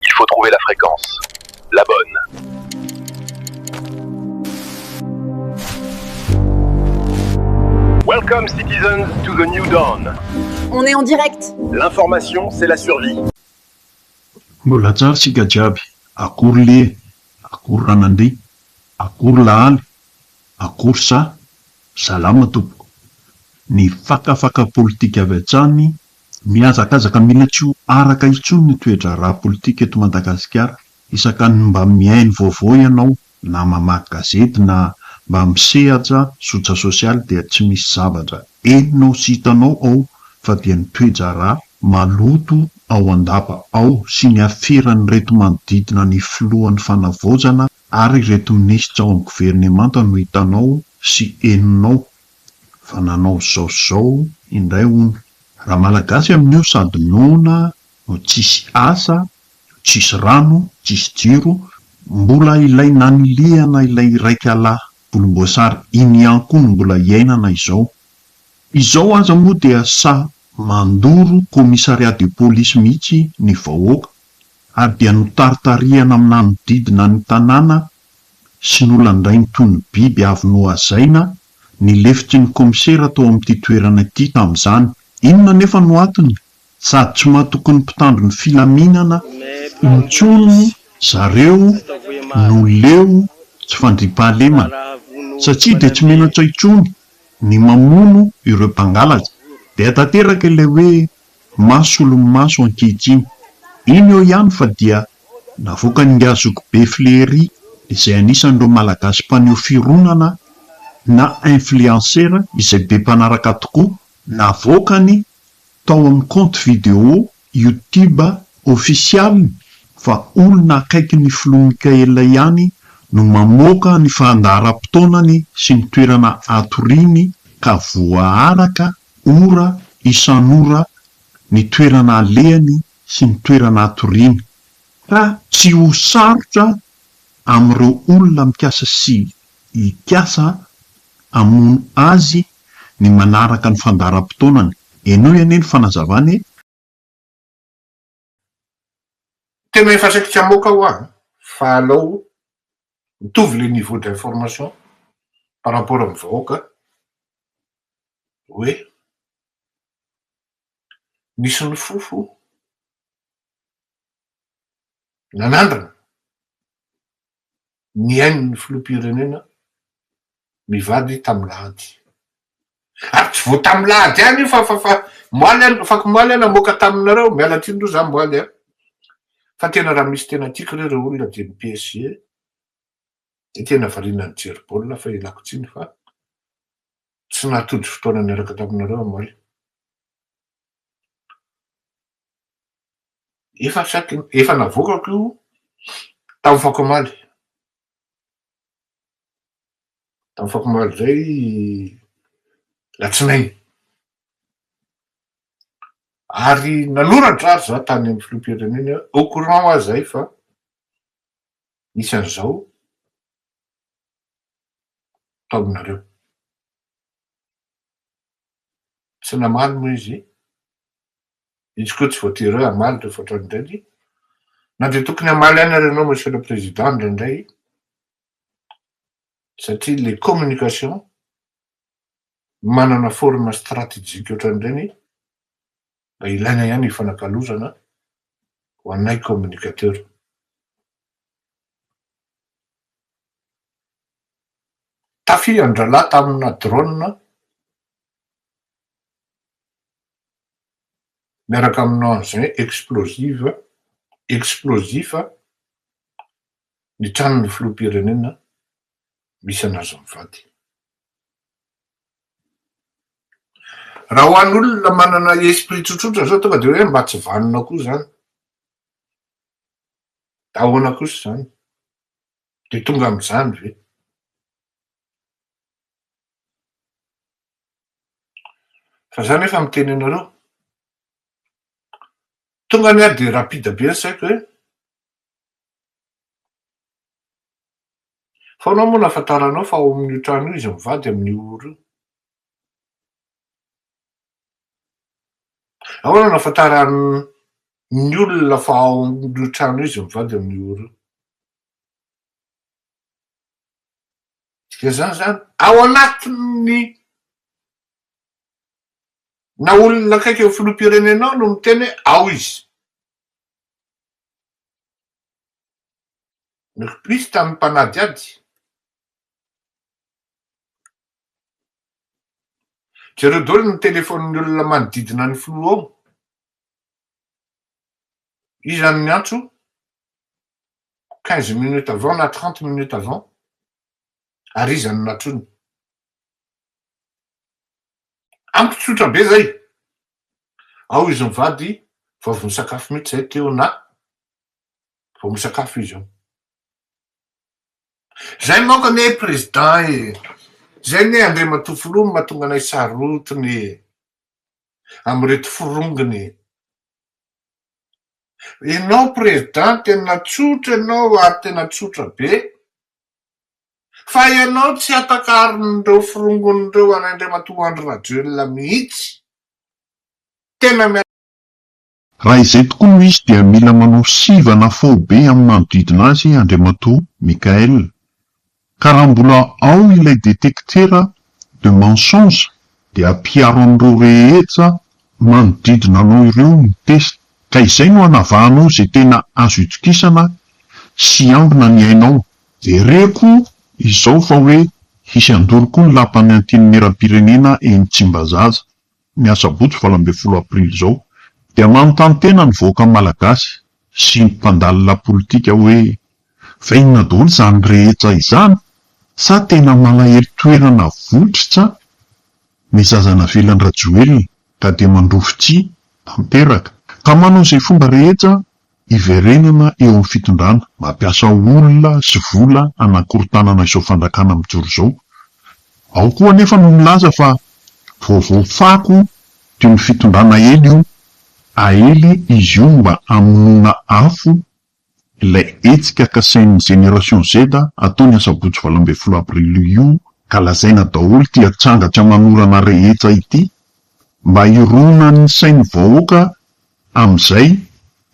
Il faut trouver la fréquence la bonne. Welcome citizens to the new dawn. On est en direct. L'information c'est la survie. Mbola tsara isika jiaby, akory le, akory ranandria, akory lahaly, akory sa, salama tompoko. Ny fakafaka politika avy hatsany Mihazakazaka mila tsy ho araka intsony ny toe-draharaha politika eto Madagasikara, isaka ny mba mihaino vaovao ianao na mamaky gazety na mba misehatra zotra sosialy dia tsy misy zavatra henonao sy hitanao ao fa dia ny toe-draharaha maloto ao an-dapa ao sy ny aferan'ireto manodidina ny filohan'ny fanavaozana ary ireto minisitra ao amin'ny governemanta no hitanao sy henonao Fa nanao zao sy zao indray hono. Raha malagasy amin'io sady noana no tsisy asa, tsisy rano, tsisy jiro, mbola ilay nanilihana ilay iraikalahy volomboasary iny ihany koa no mbola iainana izao. Izao aza moa dia sa mandoro commissariat de police mihitsy ny vahoaka ary dia notaritarihana mananodidina ny tanàna sy nolandainy toy ny biby avy nohazaina ny lefitrin'ny kaomisera tao amin'ity toerana ity tamin'izany. Inona anefa no antony? Sady tsy mahatoky ny mpitandro ny filaminana intsony zareo no leo tsy fandriampahalemana, satria dia tsy menatra intsony ny mamono ireo mpangalatra. Dia tanteraka ilay hoe. Maha solomaso ankehitriny. Iny eo ihany fa dia navoakan'ingahy Zokibe Flery izay anisan'ireo Malagasy mpaneho fironana na influencer izay be mpanaraka tokoa, navoakany tao amin'ny compte vidéo youtube ofisialiny fa olona akaikin'ny Filoha Mikaela ihany no mamoaka ny fandaharam-potoanany sy ny toerana hatoriany ka voaaraka Ora isan'ora ny toerana alehany sy ny toerana atoriany, ka tsy ho sarotra amin'ireo olona mikasa sy hikasa hamono azy ny manaraka ny fandaharam-potoanany. Henoy anie ny fanazavany e! Tena efa saiky tsy hamoaka hoa fa alao mitovy le niveau d'information par rapport amin'ny vahoaka hoe nisy nofofo nanandrana. ny ain'ny filoham-pirenena mivady tamin'ady. Ary tsy vao tamin'ady ihany io fa fa afakomaly aho namoaka taminareo, miala tsiny aloha za omaly a! fa tena raha misy tena tiako re ireo olona dia ny PSG dia tena variana nijery baolina fa ialako tsiny fa tsy nahatody fotoana niaraka taminareo omaly. Efa chaque efa navoakako io tamin'ny fako omaly, tamin'ny fako omaly zay latsinainy, ary nanoratra ary za tany amin'ny filoham-pirenena hoe au courant wa zay fa misy an'izao atao aminareo, tsy namaly moa izy, Izy koa tsy voatery hoe hamaly rehefa hatrany indray dia na dia tokony hamaly ihany ary ianao Monsieur le Président indraindray satria ilay communication manana forme stratégique ohatran'ireny mba ilaina ihany hifanakalozana ho anay communicateur. Tafian-drahalahy tamina drone miaraka amin'ny engin explosive, explosif, ny tranon'ny filoham-pirenena misy an'azy mivady. Raha ho an'olona manana esprit tsotsotra izao tonga dia hoe mba tsy vanona koa izany. Ahoana kosa izany? Dia tonga amin'izany ve? Fa za nefa miteny anareo, tonga ny ahy de rapide be ny saiko hoe, fa anao moa nafantaranao fa ao amin'io trano io izy mivady amin'io oro io? Ahoana nafantaran'ny olona fa ao amin'io trano io izy mivady amin'io oro io? Dia zany zany, ao anatin'ny na olona akaiky ny filoham-pirenenao no miteny hoe ao izy. Ny kpis tamin'ny mpanadihady. Jereo daholo ny telefaonin'ny olona manodidina ny filoha ao. Iza no niantso? quinze minutes avant na trente minutes avant ary iza no natrony? Amiko tsotra be zay, ao izy mivady vao avy nisakafo mihitsy zay teo na vao misakafo izy eo. Zay manko anie président e, zay anie Andriamatoa Filoha no mahatonga anay sarotiny e, amin'ireto forongony e. Enao président tena tsotra enao ary tena tsotra be fa enao tsy atakarin'ireo firongon'ireo an'Andriamatoa Andry Rajoelina mihitsy. Tena miarahaba. Raha izay tokoa no izy dia mila manao sivana faobe amin'ny manodidina azy Andriamatoa Michaël Ka raha mbola ao ilay detectera de mensonge dia ampiaro amin'ireo rehetra manodidina anao ireo ny test ka izay no hanavahanao izay tena azo itokisana sy hiambina ny ainao. Jereko izao fa hoe hisy handoro koa ny lapan'ny Antenimierampirenena eny Tsimbazaza. ny asabotsy valo ambin'ny folo aprily izao dia manontany tena ny vahoaka malagasy sy ny mpandalina politika hoe fa inona daholo izany rehetra izany sa tena malahelo toerana votritra ny zaza navelan'i rajoelina ka dia mandrovitsihy tanteraka ka manao izay fomba rehetra Hiverenana eo amin'ny fitondrana, mampiasa olona sy vola hanakorontanana izao fandrakana mijoro izao. Ao koa anefa no milaza fa vaovao fako toy ny fitondrana Aely io, aely izy io mba hamonoana afo ilay hetsika kasain'ny Génération Z hatao ny asabotsy valo ambin'ny folo avrily io ka lazaina daholo ity atsanga tsy aman'orana rehetra ity mba hironan'ny sain'ny vahoaka amin'izay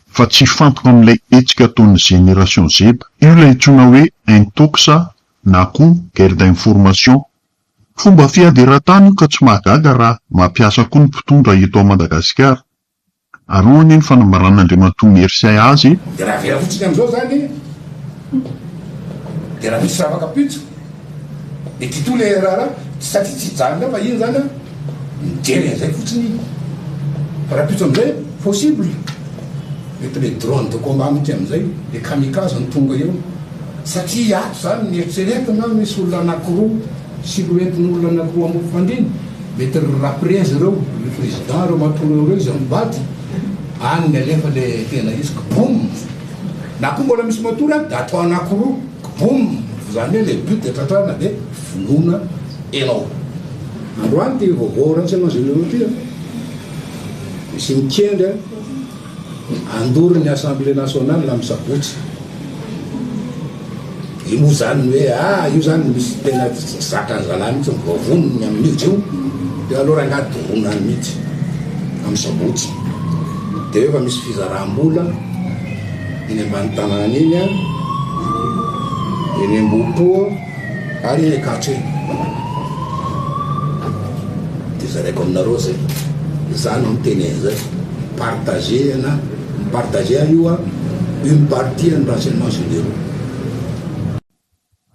fa tsy hifantoka amin'ilay hetsika ataon'ny Génération Z. Io ilay antsoina hoe Intox na koa Guerre d'information. Fomba fiady eran-tany io ka tsy mahagaga raha mampiasa koa ny mpitondra eto Madagasikara. Ary hoy anie ny fanambaran'Andriamatoa Mercier azy, Dia raha vela fotsiny amin'izao izany dia raha misy ravaka pitsy. Dia ty toa ilay raharaha satria tsy hijanona fa iny zany mijery an'izay fotsiny iny. Fa rahampitso amin'izay possible. Mety ilay drone de combat mihitsy amin'izay io, ilay kamikaze no tonga eo. Satria ato izany ny eritreretina misy olona anankiroa, silhouette-n'olona anankiroa amim-pifandrina. Mety ry raprezy ireo, ry président ireo matoa ireo ireo izy mivady. Any no alefa ilay tena izy ka boum! Na koa mbola misy matory any dia atao anankiroa. Boom! Zany hoe le but de tratrarina de vonoina enao. Androany ty vaovao ratsy anao généraux ty an! Misy mikendry an! Handoro ny assemblée nationale am sabotsy. Io moa zany ny hoe ah io zany misy tena zakan zalahy mihitsy ny voavonony ny aminio io de aleo rangahy doroana any mihitsy am sabotsy. De eo efa misy fizaram-bola. Eny ambany tanàna eny an, eny Ambohipo ary eny Ankatso eny. Dia zaraiko aminareo izay. Izaho no miteny an'izay. Partager na mi-partager ary io an, une partie an'ny renseignements généraux.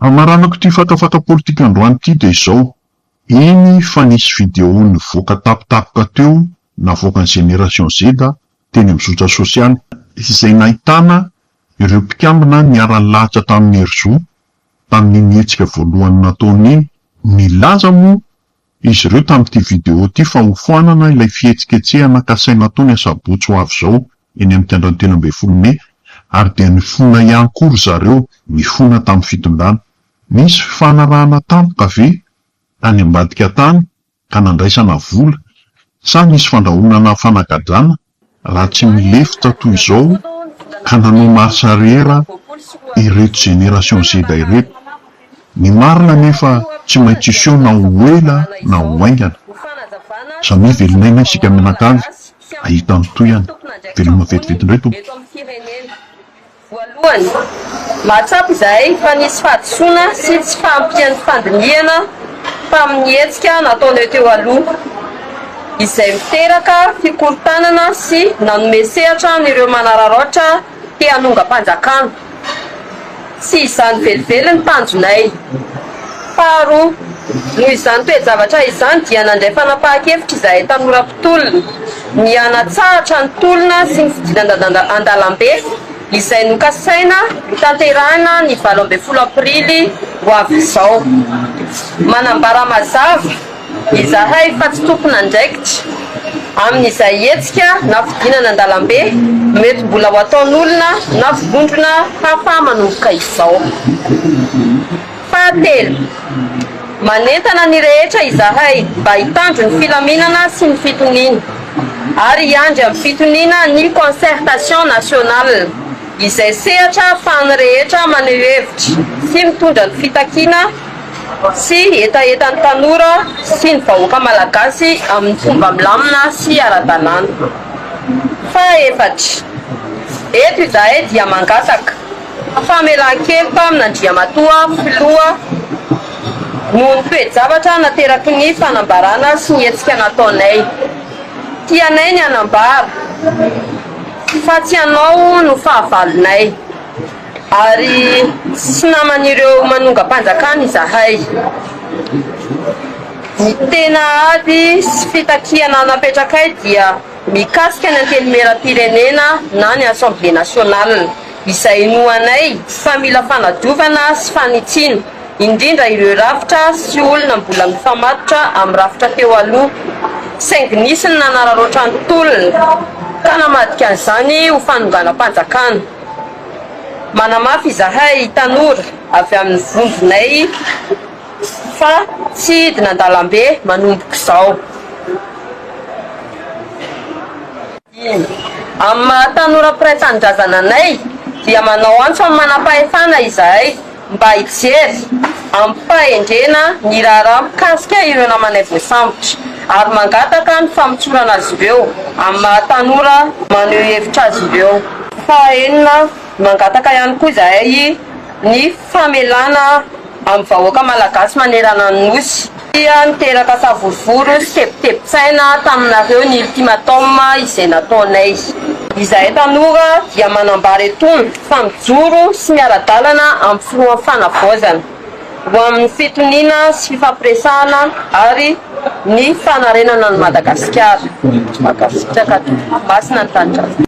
Hamaranako ity fatafata politika androany ity dia izao, eny fa nisy video nivoaka tampotampoka teo navoakan'i Génération Z teny amin'ny zotra sosialy, izay nahitana ireo mpikambana niara-nilahatra tamin'i Herizo tamin'iny hetsika voalohany nataony iny. Nilaza moa izy ireo tamin'ity video ity fa hofoanana ilay fihetsiketsehana kasaina atao ny asabotsy ho avy izao eny amin'ny kianjan'ny telo ambin'ny folo mey ary dia nifona ihany koa ry zareo nifona tamin'ny fitondrana. Nisy fifanarahana tampoka ve any ambadika tany? ka nandraisana vola, sa nisy fandrahonana fanagadrana raha tsy nilefitra toy izao ka nanao marche arrière ireto génération Z ireto? Ny marina anefa tsy maintsy hiseho na ho ela na ho haingana. Samia velon'aina isika mianakavy hahita ny tohiny. Veloma vetivety indray tompoko. Voalohany, mahatsapa izahay fa nisy fahadisoana sy tsy fahampian'ny fandinihana tamin'ny hetsika nataonay teo aloha, izay miteraka fikorontanana sy nanome sehatra an'ireo manararaotra te hanongam-panjakana. Tsy izany velively ny tanjonay. Faharoa, noho izany toe-javatra izany dia nandray fanapahan-kevitra izahay tanora mpitolona. ny hanatsahatra ny tolona sy ny fidiran-dalana an-dalambe izay nokasaina hotanterahina ny valo ambin'ny folo aprily ho avy izao. Manambara mazava izahay fa tsy tompon'andraikitra amin'izay hetsika na fidinana an-dalambe mety mbola ho ataon'olona na vondrona hafa manomboka izao. Fahatelo, manentana ny rehetra izahay mba hitandro ny filaminana sy ny fitoniana ary hiandry amin'ny fitoniana ny Concertation Nationale izay sehatra ahafahan'ny rehetra maneho hevitra sy mitondra ny fitakiana sy hetahetan'ny tanora sy ny vahoaka malagasy amin'ny fomba milamina sy ara-dalàna. Fahaefatra, eto izahay dia mangataka. Famelan-keloka amin'Andriamatoa Filoha noho ny toe-javatra nateraky ny fanambarana sy ny hetsika nataonay. Tianay ny hanambara fa tsy ianao no fahavalonay ary tsy naman'ireo manongam-panjakana izahay. Ny tena ady sy fitakiana napetrakay dia mikasika ny Antenimierampirenena na ny Assemblée Nationale. izay inoanay fa mila fanadiovana sy fanitsiana, indrindra ireo rafitra sy olona mbola mifamatotra amin'ny rafitra teo aloha, saingy nisy ny nanararaotra ny tolona ka namadika an'izany ho fanonganam-panjakana. Manamafy izahay tanora avy amin'ny vondronay fa tsy hidina an-dalambe manomboka izao. Iny. Amin'ny maha tanora mpiray tanindrazana anay dia manao antso amin'ny manam-pahefana izahay mba hijery amim-pahendrena ny raharaha mikasika ireo namanay voasambotra ary mangataka ny famotsorana azy ireo amin'ny maha tanora maneho hevitra azy ireo. Fahaenina, mangataka ihany koa izahay ny famelana. amin'ny vahoaka malagasy manerana ny Nosy. Dia niteraka savorovoro sy tebitebin-tsaina taminareo ny ultimatum izay nataonay. Izahay tanora dia manambara etona fa mijoro sy miara-dalana amin'ny Filohan'ny Fanavaozana ho amin'ny fitoniana sy fifampiresahana ary ny fanarenana an'i Madagasikara. Mankasitraka. Masina ny Tanindrazana.